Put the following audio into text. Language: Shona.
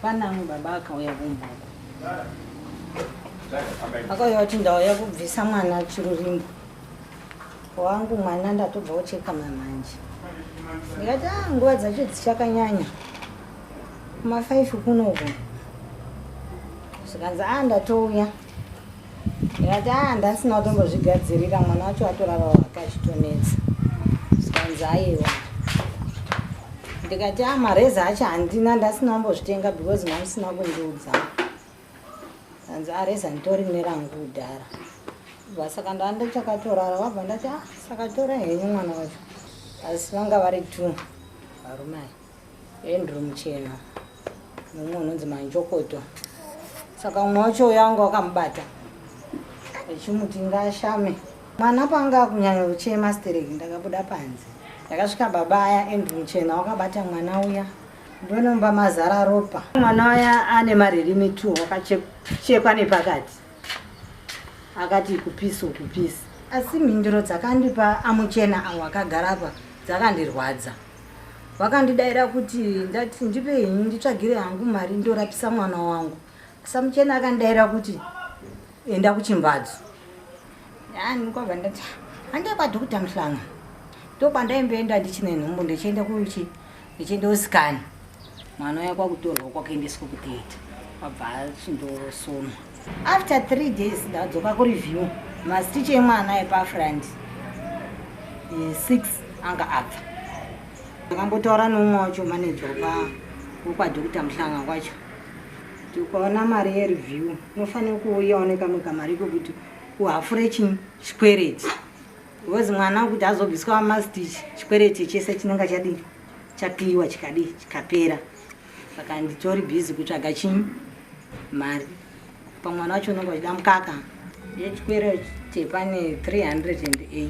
Pana amwe baba akauya kumba akauya kuti ndauya kubvisa mwana chirurimbo wangu mwana ndatobva kucheka mamanje ndikati a nguva dzacho dzichakanyanya kuma five kunoku zvikanzi a ndatouya ndikati aa ndasina kutombozvigadzirira mwana wacho atorava wake achitonetsa zvikanzi aiwa ndikati a mareza acho handina ndasina kumbozvitenga because mamusina kundiudza anzi areza nditori nerangu kudhara bva saka ndava ndachakatorara vabva ndati a ah, sakatora henyu mwana wacho asi vanga vari two varume aya Andrew Muchena mumwe unonzi Manjokoto. Saka umwe wacho uyo anga wakamubata echimuti ngaashame mwana panga akunyanya kuchema stereki ndakabuda panze ndakasvika baba aya Andrew Muchena wakabata mwana uya ndonomba mazara ropa mwana uya ane maririmi two wakachekwa nepakati akati kupisi ukupisi asi mhinduro dzakandipa amuchena awo akagara apa dzakandirwadza vakandidaira kuti ndati ndipe henyu nditsvagire hangu mari ndorapisa mwana wangu samuchena akandidaira kuti enda kuchimbadzo yanikobva ndati handei kwadhokuta muhlanga ndokwandaimboenda ndichine nhumbu ndichienda kuchi ndichienda usikani mwana uya kwakutorwa kwakaendeswa kutheatre abva achindosonwa after three days ndadzoka kureview mastiche emwana epafront eh, six anga abva ndakambotaura neumwe wacho maneja wapa wekwadokita muhlanga kwacho tikaona mari yereview unofanira kuuyawo nekamwe kamari kokuti uhafure chikwereti because mwana kuti azobviswa mastich chikwereti chese chinenge chadii chapiwa chikadii chikapera saka nditori busy kutsvaga chinyi mari pamwana wacho unenge wachida mukaka yechikwero chepane 308